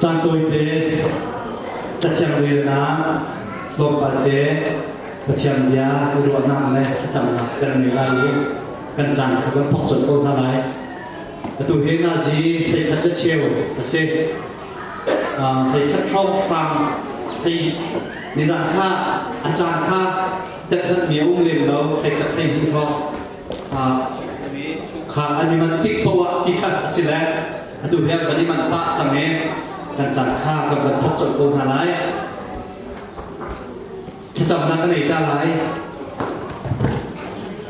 Caan tawite Cathiang relnak tlawmpal te Pathian bia ruahnak le thlacamnak kan ngei lai i kan caan kha kan thawk colh ko hna lai. Atu hi nazi theikhat le cheu a si. Um, theikhat hrawkhrang thei nizan kha a caan kha tekdat mi um lem lo theikhat thei hni tho. Kha an i man tik poah ti kha a si le atu hian kan i manh pah cang i kan cang kha kan van thok colh ko hna lai thlacamnak ka nei ta lai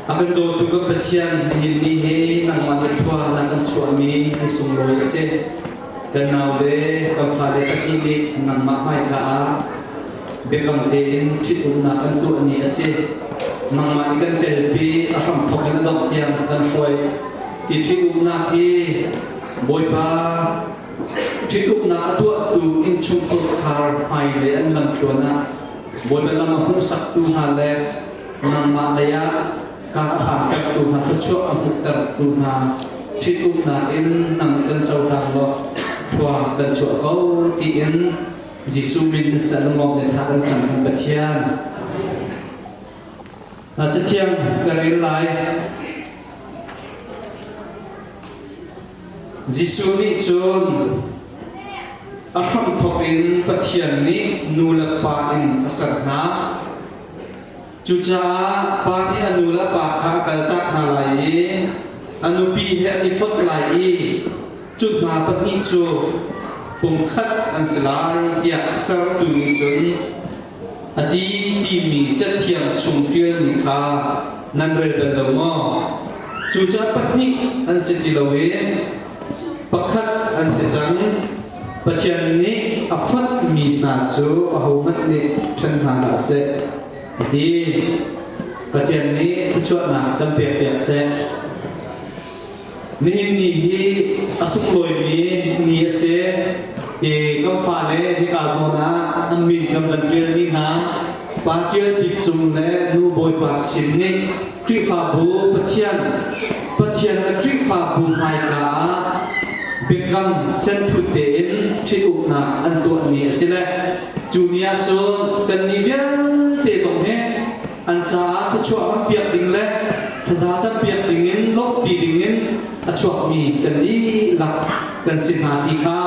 a kan dawtu kan pathian nihin ni hi nangmah ke thua nan kan chuahmi kan sunglawi a si kan naule kan fale pahnih nih nangmah hmaika ah biakam tein ṭhitumnak kan tuah ni a si. Nangmah nih kan telpi a hramthok in a dongh tiang kan hruai. Ti ṭhitumnak hi Bawipa ṭhitumnak a tuahtu innchungkhur khar hmaile an lamthluan ah Bawipa lam a hmuhsaktu hna le nangmah lei ah kar a hangtaktu hna thluachuah a hmuhtertu hna ṭhitumnak in nang kan cohlang law thlua kan chuah ko tiin Jesuh min na sal maw na thla kan cam in Pathian a cathiang ka rel lai Jesuh nih cun a hramthawk in Pathian nih nu le pa in a ser hna Cucaah pa nih a nu le pa kha a kaltak hna lai i a nupi he an i fonh lai i cu hna pahnih cu pungkhat an si lai tiah sertu nih cun a ti timi cathiang chung ṭialmi kha nan rel bal lo maw? Cucaah pahnih an si ti loin pakhat an si cang. Pathian nih a fonhmi hna cu ahohmanh nih ṭhen hna hlah seh. Ti Pathian nih thluachuahnak kan pek piak seh. Nihin ni hi a sunglawimi ni a si. Hi kan fale hika zawn ah an min kan van ṭialmi hna Pa Ṭial Bik Cung le Nu Bawipa Chin nih Khrihfabu Pathian, Pathian a Khrihfabu hmaika ah biakam senthut tein ṭhitumnak an tuahmi a si le cu ni ahcun kannih vialte zong hi an caah thluachuah kan piak ding le thaza campiak dingin lawmhpi dingin a chuakmi kan dihlak kan si hna ti kha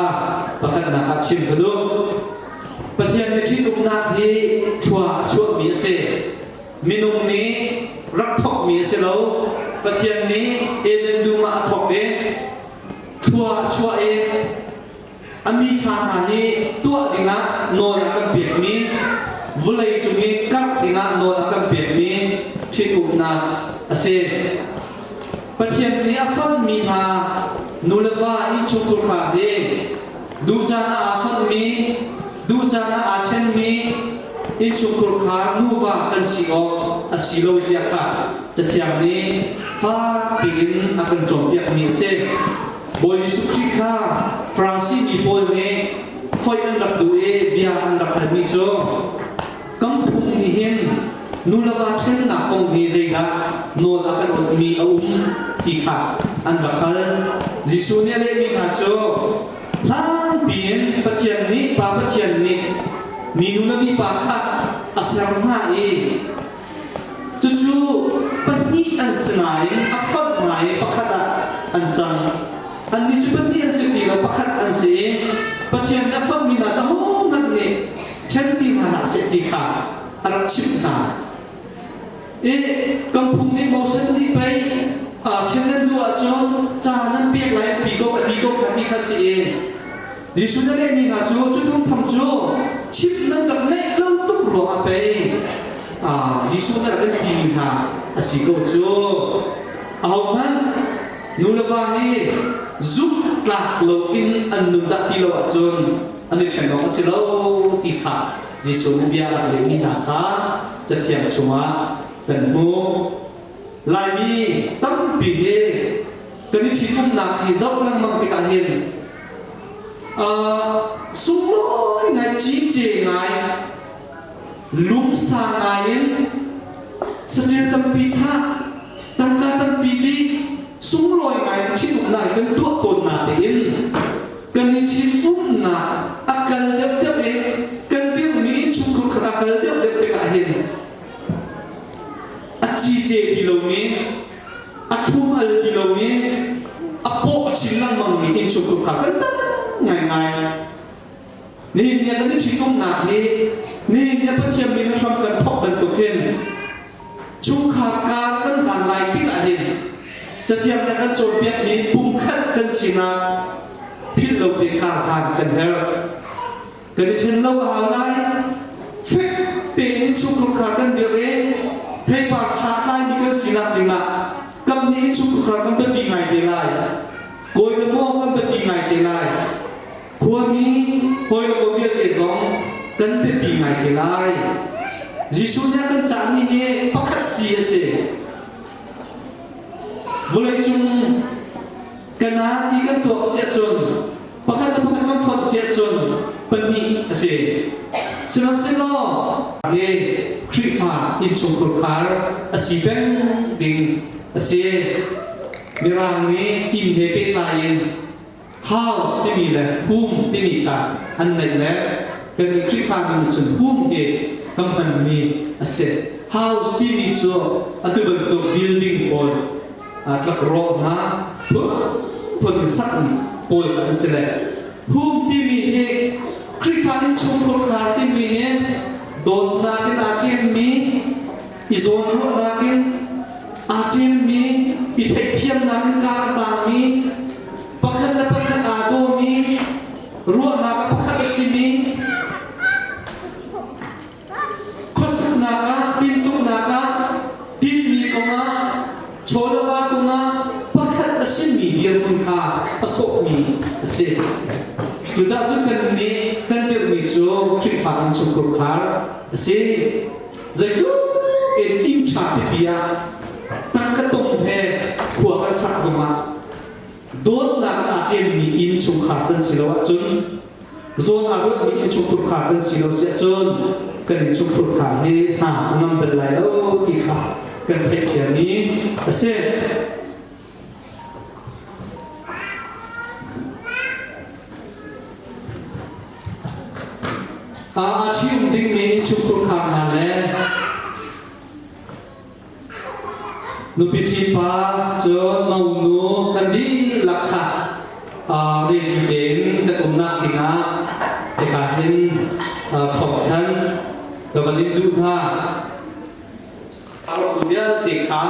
pakhatnak ah chim ka duh. Pathian nih ṭih uknak hi thlua a chuahmi a si. Minung nih rak thawkmi a si lo. Pathian nih Eden dum ah a thawk i thlua a chuah i a mi thla hna hi tuah dingah nawl a kan pekmi vulei cung i karh dingah nawl a kan pekmi ṭhitumnak a si. Pathian nih a fonhmi hna nulefa i chungkhar nih duh caan ah aa fonhmi, duh caan ah aa ṭhenmi innchungkhur kha nuva kan si awk a si lo zia kha Cathiang nih fak piin a kan cawnpiakmi a si. Bawi Jesuh Khrih kha Farasi mi pawl nih foih an rak duh i bia an rak halmi cu Kan phung nih hin nu le va ṭhennak kong hi zeidah nawl a kan ukmi a um ti kha an rak hal. Jesuh nih a lehmi hna cu hlangpi in Pathian nih Pa Pathian nih minu le mipa kha a ser hna i cucu pahnih an si nain a fonh ngai pakhat ah an cang. Annih cu pahnih an si ti lo, pakhat an si i Pathian nih a fonhmi hna cu ahohmanh nih ṭhen ti hna hlah seh ti kha a rak chimh hna. I kan phung nih Moses nih pei ṭhen nan duh ahcun ca nan pek lai ti ko a ti ko kha ti kha si i Jesuh nih a lehmi hna cu cu thum tham cu chimh nan rak leh lo tuk ruangah pei Jesuh nih a kan timi hna a si ko cu. Ahohmanh nu le va hi zumh tlak loin an nun dah ti lo ahcun an i ṭhen awk a si lo ti kha Jesuh bia a lehmi hna kha cathiang chungah kan hmuh. Laimi tampi he kan i ṭhitumnak hi zoh lengmang tikah hin uh, sunglawi ngai cice ngai lungsa ngai in saṭil tampi tha tangka tampi nih sunglawi ngai ṭhitumnak kan tuah tawn hna tein kan i ṭhitumnak a kal deuhdeuh i kan dirhmi innchungkhar khat a kal deuhdeuh tik ahhin a cice ti lomi a thumhal ti lomi a paw a chin lengmangmi innchungkhar kha kan tam ngaingai Nihin kan i ṭhitumnak hi nihin na Pathian min hram kan thawk bantuk hin chungkhar kar kan hlan lai tikah hin cathiang nih kan cawnpiakmi pumkhat kan sinak philh lo ve karhlan kan herh. Kan i ṭhen lo a hau lai. Fek tein in chungkhar kar kan dirh i theipar ṭha tlaimi kan sinak dingah kapnih in chungkhar kan biapi ngai te lai. Kawi le maw kan biapi ngai te lai. Khuami hawi le ko vialte zong kan biapi ngai te lai. Jesuh nih a kan cah ni hi pakhat si a si. Vawleicung kan ha ti kan tuak si ahcun pakhat le pakhat kan fonh si ahcun pahnih a si. Sihmanhsehlaw hi Khrihfa innchungkhur khar a si peng ding a si. Mirang nih inn he pehtlai in house timi le home timi kha an neih le kannih Khrihfami nih cun home hi kan hmanmi a si. House timi cu atu bantuk building pawl tlakrawh hna phun sakmi pawl an si le home timi hi Khrihfa in chungkhur khar timi nih dawtnak in aa ṭemmi i zawn ruahnak in aa ṭemmi i theihthiamnak in kaa a tangmi pakhat le pakhat aa dawmi ruahnak a pakhat a simi khuasaknak ah tintuknak ah tinmi kongah chawlava kongah pakhat a simi dirhmun kha a sawhmi a si cucaah cun kan nih kan dirhmi cu Khrihfa kan chung khurkhar a si zeitluk in inn ṭha pipi ah tangka tong he khua kan sak zong ah dawtnak aa ṭemmi inn chungkhar kan si lo ahcun zawn aa ruatmi inn chungkhar kan si lo si ahcun kan inn chungkhar hi hna a ngam bal lai lo ti kha kan theih ṭhiam i a si aa ṭhim dingmi chungkhurkhar hna le nupi ṭhipa cun monu kan dihlak kha rili tein kan umnak dingah hika hin thawngthanh ka van in duh hna A atu vialte kha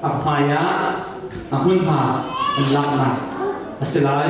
a hmaiah a hmunhma an lak hna a si lai.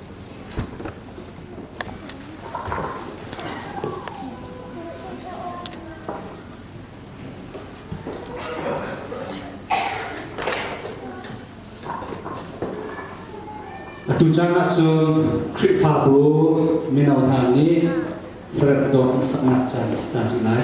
Tuchan ah cun Khrihfabu mino hna nih rep dawt an saknak caan a si ta rih lai.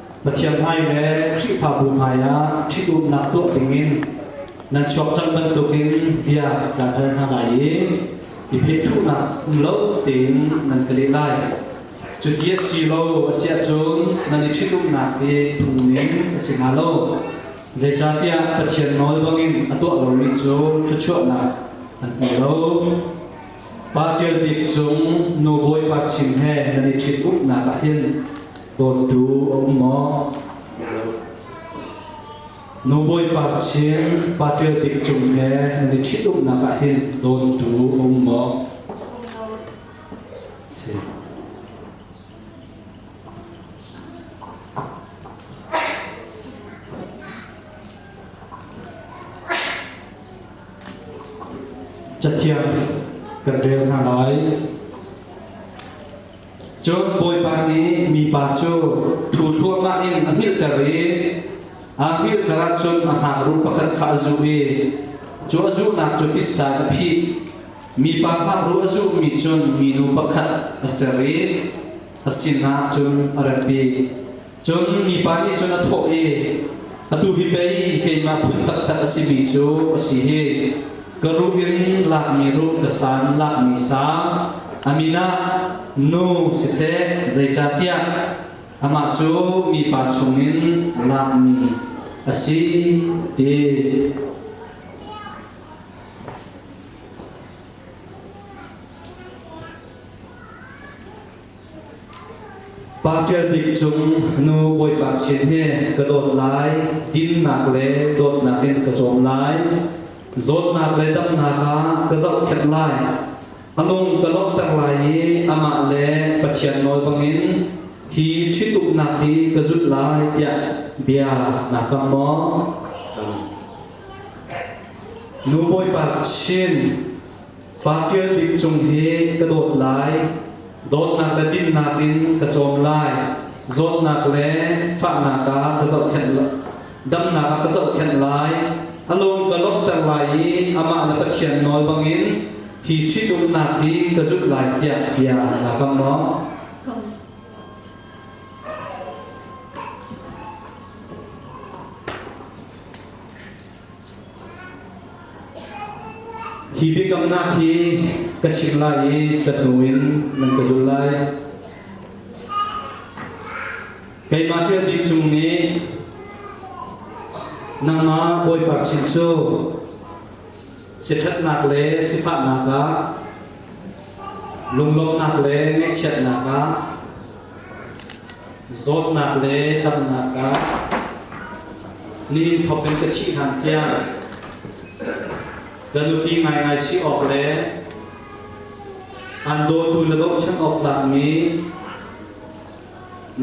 Pathian hmai le Khrihfabu hmaiah ṭhit umnak tuah dingin nan chuak cang bantukin bia kan hal hna lai i i phethuhnak um lo tein nan ka leh lai. Cuti a si lo a si ahcun nan i ṭhitumnak hi phungning a si hnga lo. Zeicahtiah Pathian nawl bangin a tuah lomi cu thluachuahnak an hmu lo. Pa ṭial bik cung nu bawipa chin he nan i ṭhitumnak ah hin Dawtu a um maw? Nu Bawipa Chin pa ṭial bik cung he nan i ṭhitumnak ah hin dawtu a um maw? Si. Cathiang kan rel hna lai. Cun Bawipa nih mipa cu thu thluahmah in a hngilhter i a hngilhter ahcun a ngaknu pakhat kha a zuh i cu a zuhnak cu tissa in a phih. Mipa ngaknu a zuhmi cun minu pakhat a ser i a sinah cun a ratpi. Cun mipa nih cun a thawh i, Atu hi pei keimah phun taktak a simi cu a si hi, ka ruh in lakmi ruh, ka san lakmi sa, a min ah nu siseh, zeicahtiah amah cu mipa chungin lakmi a si, ti. Pa Ṭial Bik cung nu Bawipa chiat he ka dawt lai, dinnak le dawtnak in ka cawm lai, zawtnak le damnak ah ka zohkhenh lai. A lung ka lawmhter lai i amah le Pathian nawl bangin hi ṭhitumnak hi ka zulh lai tiah bia naa kam maw? Nu Bawipa sin Pa ṭial bik cung hi ka dawt lai, dawtnak le dinnak in ka cawm lai, zawtnak le fahnak ah ka zohkhenh damnak ah ka zohkhenh lai, a lung ka lawmhter lai i amah le Pathian nawl bangin hi ṭhitumnak hi ka zulh lai tiah bia naa kam maw? Hi biakamnak hi ka chimh lai i ka hnu in nan ka zul lai. Keimah ṭial bik cung nih nangmah Bawipa chin cu siṭhatnak le sifahnak ah lunglawmhnak le ngaihchiatnak ah Zawtnak le damnak ah nihin thawk in ka thih hlan tiang ka nupi ngaingai si awk le an dawtu le bochan awk tlakmi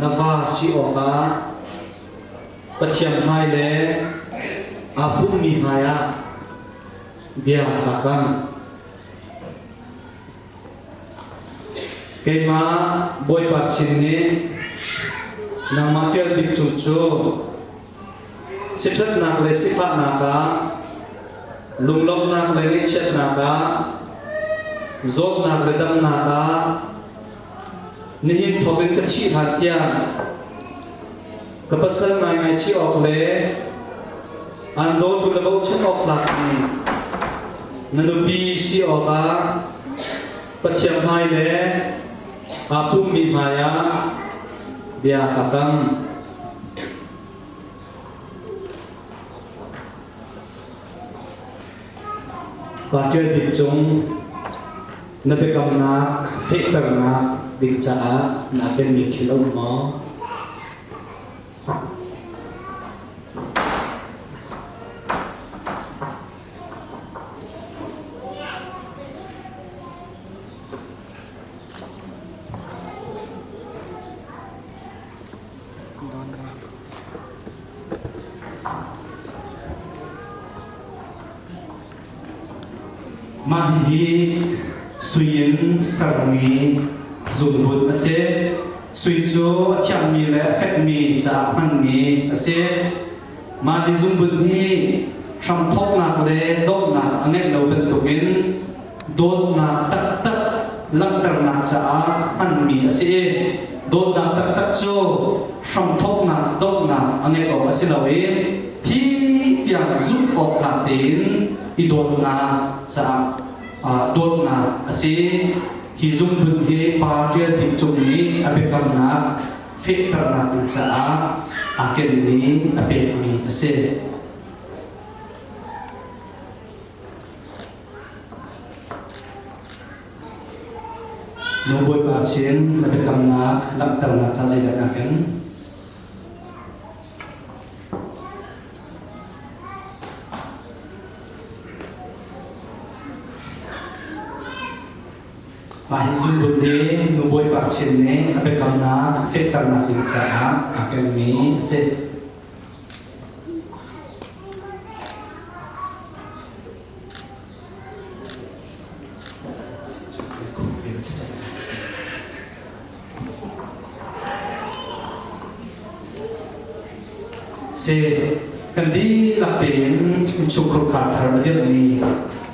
na va si awkah Pathian hmai le aa pummi hmai ah bia ka kam. Keimah Bawipa Chin nih nangmah ṭial bik cu cu siṭhatnak le sifahnak ah lunglawmhnak le ngaihchiatnak ah zawtnak le damnak ah nihin thawk in ka thih hlan tiang Ka pasal ngaingai si awk le aan dawtu le bochan awk tlak in na nupi si awkah Pathian hmai le aa pummi hmaiah bia ka kam. Ka ṭial bik cung Na biakamnak fehternak ding caah naa penmi thil a um maw? Mah hihi sui in sermi zunhbunh a si. Sui cu a thiangmi le a fekmi caah hmanmi a si. Mah ni zunhbunh hi hramthawknak le dawtnak a ngeih lo bantukin dawtnak taktak langhternak caah hmanmi a si i dawtnak taktak cu hramthawknak donghnak a ngeih awk a si lo i thi tiang zumh awk tlak tein i dawtnak caah dawtnak a si hi zumhun hi pa ṭial bik cung nih a biakamnak fehternak ding caah aa kenmi a pekmi a si Nu Bawipa sin na biakamnak langhternak ca zeidah na ken? Mah hi zungbun nih Nu Bawipa sin nih a biakamnak fehternak ding caah aa kenmi a si. Si kan dihlak tein innchungkhar thar a dirhmi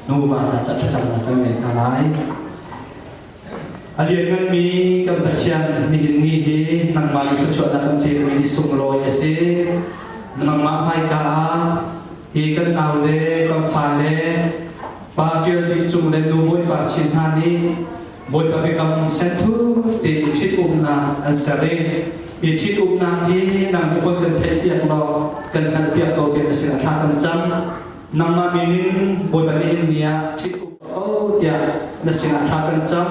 nuva hna caah thlacamnak kan ngei hna lai. A liannganmi kan Pathian nihin ni hi nangmah thluachuahnak kan pekmi ni sunglawi a si. Nangmah hmaika ah hi kan nau le kan fale pa ṭial bik cung le nu bawipa chin hna nih Bawipa Biakam senthur tein ṭhitumnak an ser i hi ṭhitumnak hi nang nih kan kan theih piak law kan hngalh piak ko tiah a sin a thla kan cam. nangmah min in Bawipa nih in ni ah ṭhitum ka o tiah na sinah thla kan cam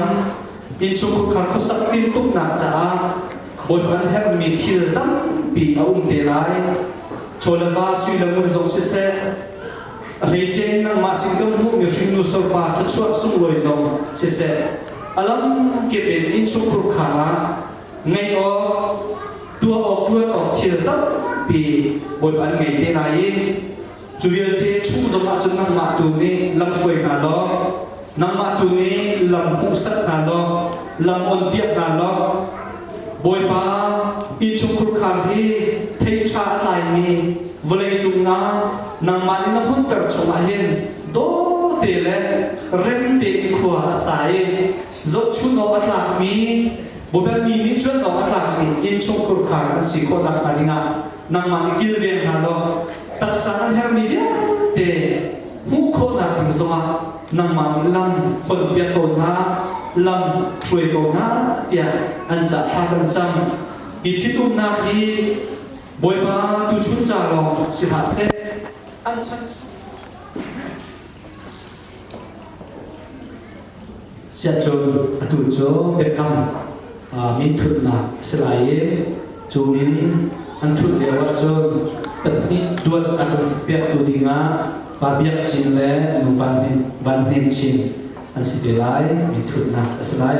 innchungkhar khukhar khusak timtuknak caah Bawipa an herhmi thil tampi a um te lai chaw le va sui le ngun zong siseh hleice in nangmah sin kan hmuhmi hringnu sofa thluachuah sunglawi zong siseh a lamkip in innchungkhar khang ah ngeih awk tuah awk ṭuan awk thil tampi Bawipa an ngei te lai i Cu vialte chuh zong ahcun nangmah tu nih lam hruai hna law, nangmah tu nih lam hmuhsak hna law, lam onpiak hna law, Bawipa inn chungkhur khar hi theiṭha a tlaimi vawlei cungah nangmah nih na hmunter chungah hin dawte le remte in khua a sa i zohchun awk a tlakmi Bawipa mi nih ṭuan awk a tlakmi inn chungkhur khar an si khawh nakhnga dingah nangmah nih kilveng hna law taksa an herhmi vialte hmuh khawhnak ding zongah nangmah nih lam honpiak ko hna lam hruai ko hna tiah an cah thla kan cam hi ṭhitumnak hi bawipa tu chun ca lawng si hlah seh an chan chung Siah cun atu cu biakam min thutnak a si lai i cu min an thut lio ah cun pahnih luat an kan sakpiaktu dingah Pa Biak Cin le Nu Van Hnem Chin an si ve lai min thutnak a si lai.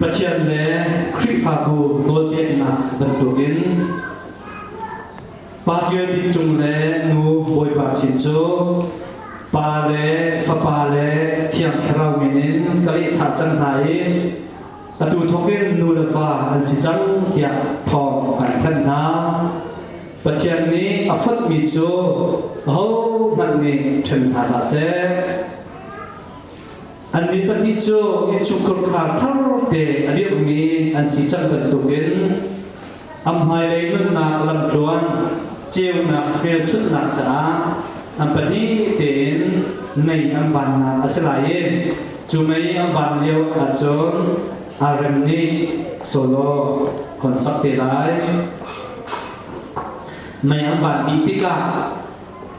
Pathian le Khrihfabu nawlpeknak bantukin Pa Ṭial Bik Cung le Nu Bawipa Chin cu pa le fapa le thiang thlarau min in ka lehthah cang hna i atu thawkin nu le pa an si cang tiah thawng kan thanh hna. Pathian nih a fotmi cu ahohmanh nih ṭhen hna hlah seh. An ni pahnih cu innchungkhur khar thar te a dirhmi an si cang bantukin an hmailei nunnak lamtluan ceunak hmelchunhnak caah an pahnih tein mei an vannak a si lai i cu mei an van lio ahcun arem nih solo hon sak te lai mei an van dih tikah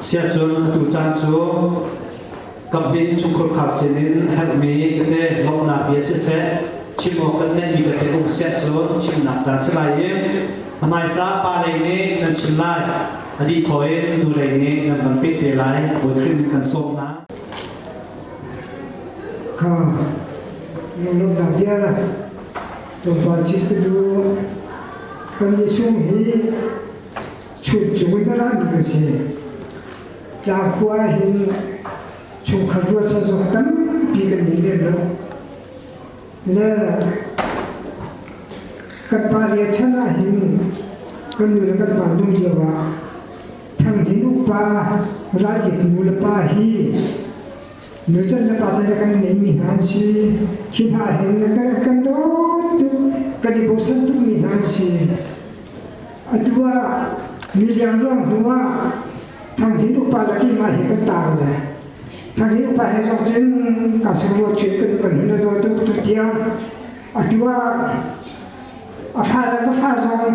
Siachun atu caan cu kamhnih chungkhur khar sin in herhmi tete lawmhnak bia siseh chim awk kan ngeihmi tete um siah cun chimnak caan si lai i hmaisa pa lei nih nan chim lai adi thaw in nu lei nih nan van peh te lai buai krim kan sawm hna ka nung lawmnak bia na Lungvar cit ka du kan ni sung hi chun cung in ra mi ka si tla khua hin chung khar rua sa zok tampi kan ni le lo le kan pa le chan ah hin kan nu le kan pa nung lio ah thang hin upa rai nu le pa hi Nurcan na pa cu na kan ngeimi hna an si. Khi hna hin na kan kan dawt tuk, kan i bosan tukmi hna an si. Atu ah mi liangluang hnu ah Thanghin upa laki mah hi kan tar le Thanghin upa he zong cun ka sungruo chuyện kan kan hun daw tuk tu tiang atu ah a fa le ka fa zong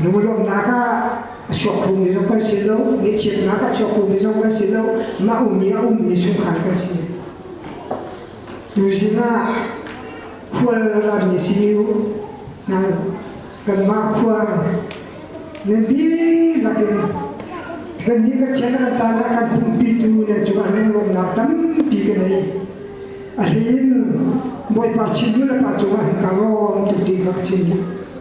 Lungrawknak ah a suakkhumi zong kan si lo, ngeihchiatnak ah suakkhumi zong kan si lo, mah ummi a ummi chungkhar kan si. Tu sinah khual rami simi hna kanmah khua nan dihlak in kannih ka chen kan caan ah kan pumpitu nan cungah nan lawmnak tampi ka nei. A hlin Bawipa chin nu le pa cungah ka rawm tuti ka chin.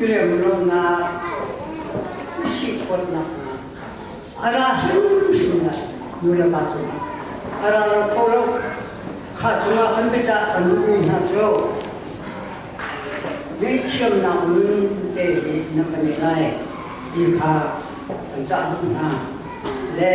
iremlonak, sikhawtnak a ra hrimhrim lai nulapa cungah a ra lo kho lo kha cungah kan biacah kan duhmi hna cu ngaihthiamnak nun te hi na kan i lai ti kha kan cah duh hna le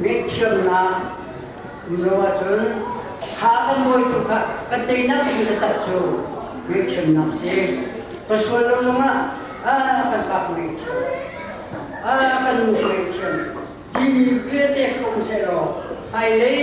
ngaihthiamnak mino ahcun tha kan mawi tuk ah kan teinak cu taktak cu ngaihthiamnak si ka sual lo zong ah a kan bak ngaihthiam a kan ngaihthiam timi viate không se law ai lei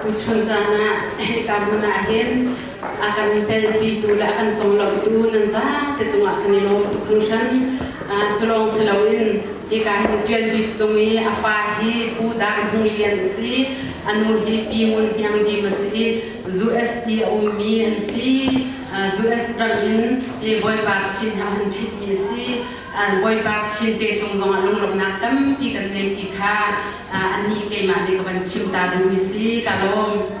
Tuchun caan ah hika hmun ah hin a kan telpitu le a kan conglawmhtu nan zate cungah kan i lawm tuk hringhran. Cu lawng si loin hika hin ṭial bik cung i a pa hi Pu Dang Hmung Lian a si. A nu hi Pi Ngun Hniang Dim a si. USD a ummi an si. US ram in Bawipa Chin he a hun ṭhitmi a si. Bawipa Thiante cung zongah lunglawmhnak tampi kan ngei ti kha annih keimah nih ka van chim ta ding mi si ka lawm.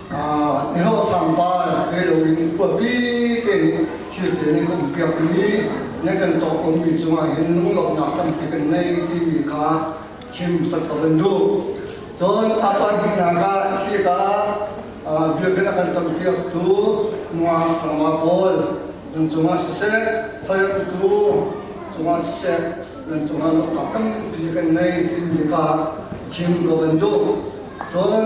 mihlawhsang pa ke lo in khuapi te nih thil te nih kan piak mi ne kan tok um mi cungah hin lunglawmnak tampi kan nei ti mi kha chim sat ka ban du cun apa dihnak ah khi ka biakinn akan tam piak tu mua khangma pawl nan cungah siseh thayat tu cungah siseh nan cungah loknak tampi kan nei ti mi ka chim ka ban du cun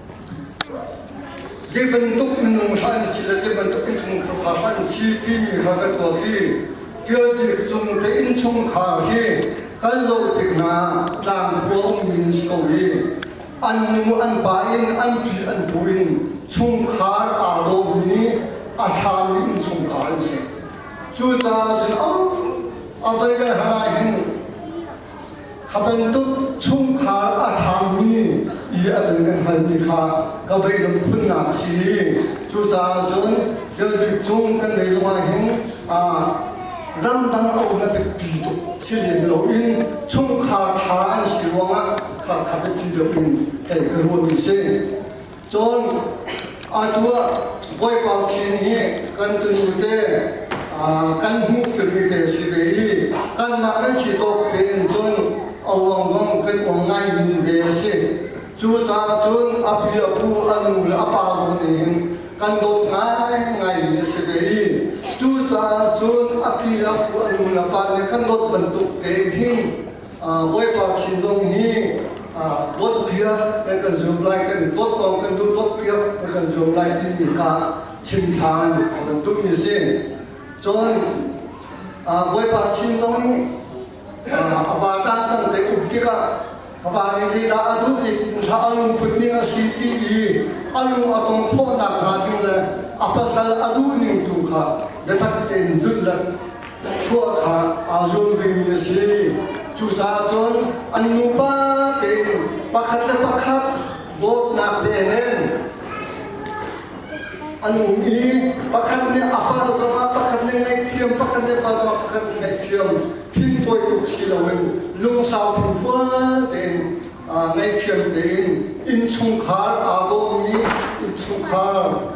Zei bantuk minung hlah an si le zei bantuk innchungkhar hlah an si timi kha ka tuak i ṭialbik cung te innchungkhar hi kan zoh tik hna tlang khua ummi na si ko i an nu an pa in an pi an pu in chungkhar aa lawmmi a ṭhami innchungkhar an si. Cucaah cun a vai le hangah hin Kha bantuk chungkhar a ṭhangmi i a dang kan halmi kha ka beidam khunnak si cucaah cun ṭial bik cung kan beih zong ahhin ramdang a um a biapi tuk si lem loin chungkhar ṭha an si ruangah kha kha biapi deuh in tei ka ruahmi si. Cun atu ah Bawipa Pathian hi kan tunu te kan hmuh timi te si ve i kanmah kan si tawk tein cun awang zong kan awng ngaimi ve a si. Cucaah cun a pi a pu a nu le a pa zong nih kan dawt ngaimi a si ve i cucaah cun a pi le pu a nu le pa nih kan dawt bantuk tein hin Bawipa thin zong hi dawt piak kan zuam lai kan i dawt kong kan duh dawt piak kan zuam lai ti mi ka chim than kan duh mi si. Cun Bawipa thin zong nih a ba tlak kan te um tikah ka ba ni li dah a duh i thla a lung put ning a si ti i a lung a kong khawh nak hnga ding le a pasal a duh ning tu kha biatak tein zut le tuah kha aa zuam vemi a si. Cucaah cun an nupa tein pakhat le pakhat dawtnak tein an um i pakhat nih a pa zongah pakhat nih ngaihthiam pakhat nih pa zongah pakhat nih ngaihthiam thintawi tuk si loin lungsau thinfual tein ngaithiam tein innchungkhar aa dawmi innchungkhar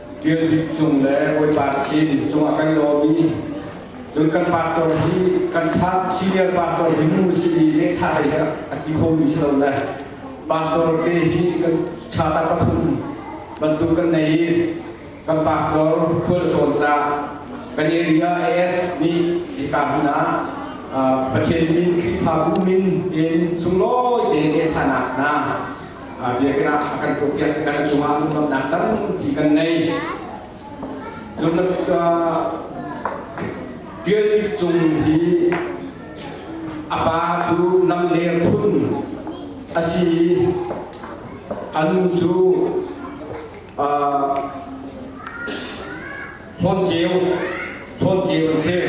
Tial Bik Cung le Bawipa sin cungah kan daw mi cun kan pastor hi kan sa senior pastor hi nu si i lehkha lei a ti kho mi si lo le pastor te hi kan chata pathum bantuk kan nei i kan pastor khual tlawn ca kan area AS nih hika hmun ah Pathian min Khrihfabu min in sunglawi tein lehkhanak na biakinn ah a kan kuhpiak kan cungah hmuhtonnak tampi kan ngei Tial Cung hi a pa cu lam le phun a si a nu cu Hlawt ceu, hlawt ceu a si.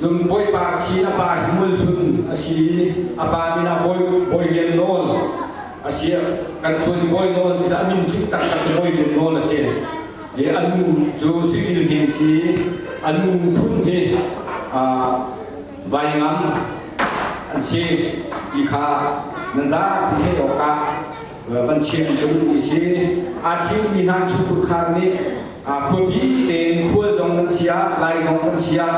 Nun bawipa si a pa hi mulhlun a si a pa min a bawi bawi lian nawl a si kan thun bawi nawl cu a min tling tak tak bawi lian nawl a si i a nu cu sifil hi si a nu phun hi vai ngam an si ti kha nan zapi theih awk ah kan chim ka duhmi si aa thimmi hna chungkhar nih khuapi tein khual zong kan siah lai zong kan siah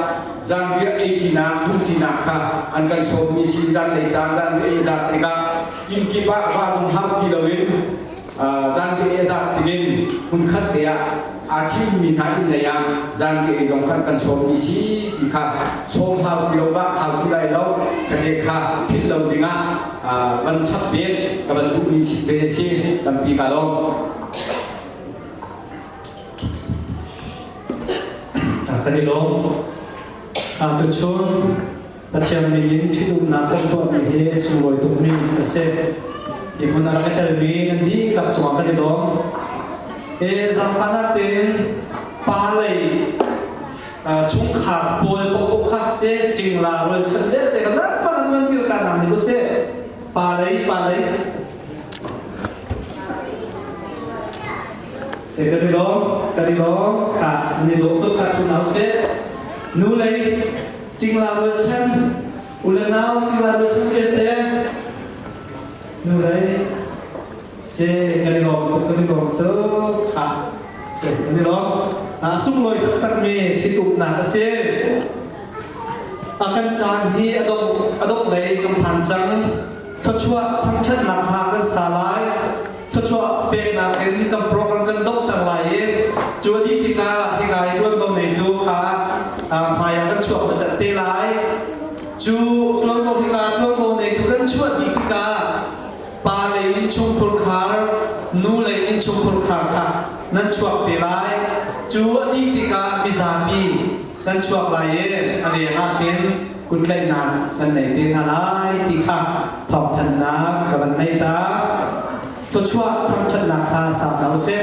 zanriah eiṭinak duhṭinak kha an kan sawmmi si zanlei caan zanriah zat tikah inkip ah va zong hau ti loin zanriah zat tikin hmunkhat te ah aa thimmi hna inn lei ah zanriah zong khan kan sawmmi si ti kha sawm hau ti lo ba hau ti lai lo ka ke kha philh lo dingah van chap ve ka van duhmi chip ve a si tampi ka lo kan i lawm tuchun Pathian ning in ṭhitumnak kan tuahmi hi sunglawi tukmi a si. Hi hmun ah ka telmi kan dihlak cungah kan i lawm. E zaangfahnak tin pa lei chungkhar pawl paoh kha pek cingla rual chan belte ka zat fan an man bil ka nam ni use pa lei pa lei se ka di lo ka di lo ka ni do to ka chu nau se nu lei cingla rual chan ule nau cingla rual chan ke te nu lei Se kan i lawm tuk kan i lawm tuk ha se kan i lawm na sunglawi taktak mi thil uknak a si a kan caan hi a dongh a dongh lei kan phan cang thluachuah thangṭhatnak hla kan sa lai thluachuah peknak in kan program kan donghter lai i cu a dih tikah hikai ṭuanvo neitu kha hmaiah kan chuak pasat te lai cu ṭuanvo hika ṭuanvo neitu kan chuah dih tikah pale innchungkhur khar nule innchungkhur khar kha nan chuak te lai cu a dih tikah mizapi kan chuak lai i a riang ah khin kutlaihnak kan nei te hna lai ti kha thawngthanhnak ka van nei ta tuachuah thangthatnak kha sa hna usih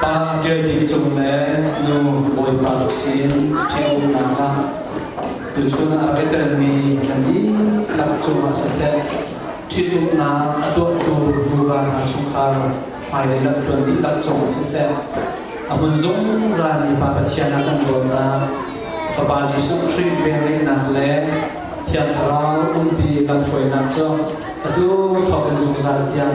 Pa ṭial bik cung le nu Bawipa sin ṭhitumnak ah tuchun a pe telmi kan dihlak cungah siseh ṭhitumnak a tuahtu nuva hna chungkhar hmailei lamthluan dihlak cungah siseh a hmun zungzalmi Pa Pathian ah kan dawtnak Fapa Jesuh Khrih velngeihnak le Thiang Thlarau umpi kan hruainak cu a tu thawkin zungzal tiang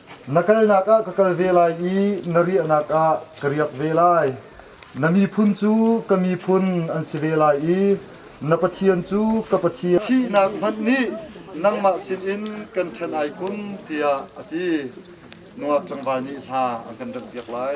Na kalnak ah ka kal ve lai i na riahnak ah ka riak ve lai. Na miphun cu ka miphun an si ve lai i na Pathian cu ka Pathian thihnak hmanh nih nangmah sinin kan ṭhen ai kum tiah a ti. Nungak tlangval nih hla an kan remhpiak lai.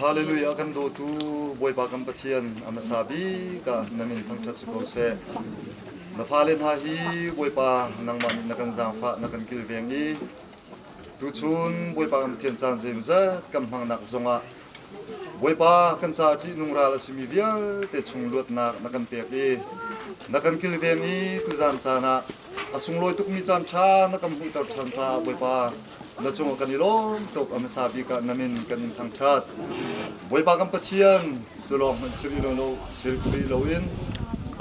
Hallelujah kan dawtu Bawipa kan Pathian a hmasa bik ah na min thangṭhat si ko seh. Na fale hna hi Bawipa nangmah nih na kan zaangfah na kan kilveng i tuchun Bawipa kan Pathian caan zeimazat kan hmangnak zongah Bawipa kan ca ṭih nung ral a simi vialte chung luatnak na kan pek i na kan kilveng i tuzan caan ah a sunglawi tukmi caan ṭha na kan hmuhter ṭhan caah Bawipa na cungah kan i lawm tuk a hmasa bik ah nam in kan in thangṭhat bawipa kan pathian cu lawng hmanh si rih lo lo sil rih loin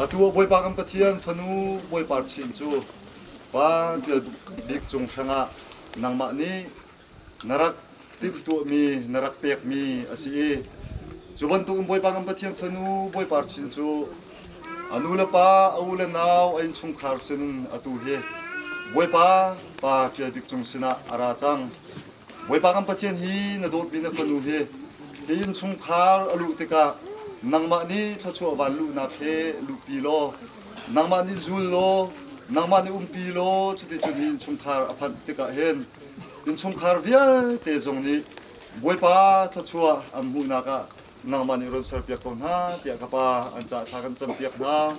atu ah bawipa kan pathian fanu bawipa chin cu pa ṭial bik cung hrangah nangmah nih na rak timhtuahmi na rak pekmi a si i cu bantukin bawipa kan pathian fanu bawipa chin cu A nulepa, a u le nau, a innchungkhar sinin atu hi Bawipa pa Ṭial Bik Cung sinah a ra cang. Bawipa kan Pathian hi na dawtmi na fanu hi hi innchungkhar a luh tikah nangmah nih thluachuah van luhnak he luhpi law nangmah nih zul law nangmah nih umpi law cuticun hi innchungkhar a phanh tikah hin innchungkhar vialte zong nih Bawipa thluachuah an hmuhnak ah nangmah nih run serpiak ko hna tiah ka pa an cah thla kan campiak hna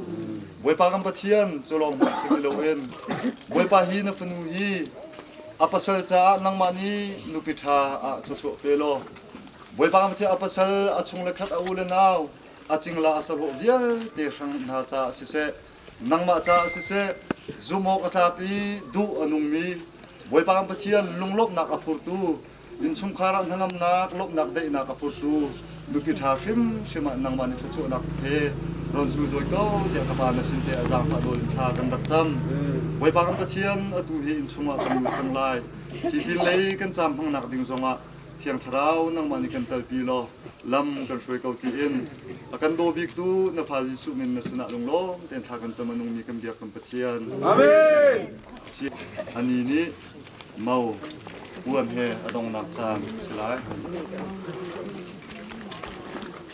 bawipa kan pathian cu lawng hmanh si loin bawipa hi na fanu hi a pasal caah nangmah nih nupi ṭha ah thluachuah pe law bawipa kan pathian a pasal a chung le khat a u le nau a cingla a sahawh vialte hrang hna caah siseh nangmah caah siseh zumawk a tlak i duh a nungmi Bawipa kan Pathian lunglawmhnak a phurtu innchungkhar ah hnangamnak lawmhnak daihnak a phurtu nupi ṭha hrimhrim ah nangmah nih thluachuahnak he ron zul dawi ko tiah ka pa na sin te a zaangfah nawl in thla kan rak cam Bawipa kan Pathian atu hi inn chungah kan lut cang lai hi pin lei kan cam hmangnak ding zongah Thiang Thlarau nangmah nih kan kalpi law lam kan hruai ko tiin a kan daw biktu na fa Jesuh min na sinah lunglawm tein thla kan cam a nungmi kan biak kan Pathian. Amen. Ani nih mau puan he a dongnak caan si lai.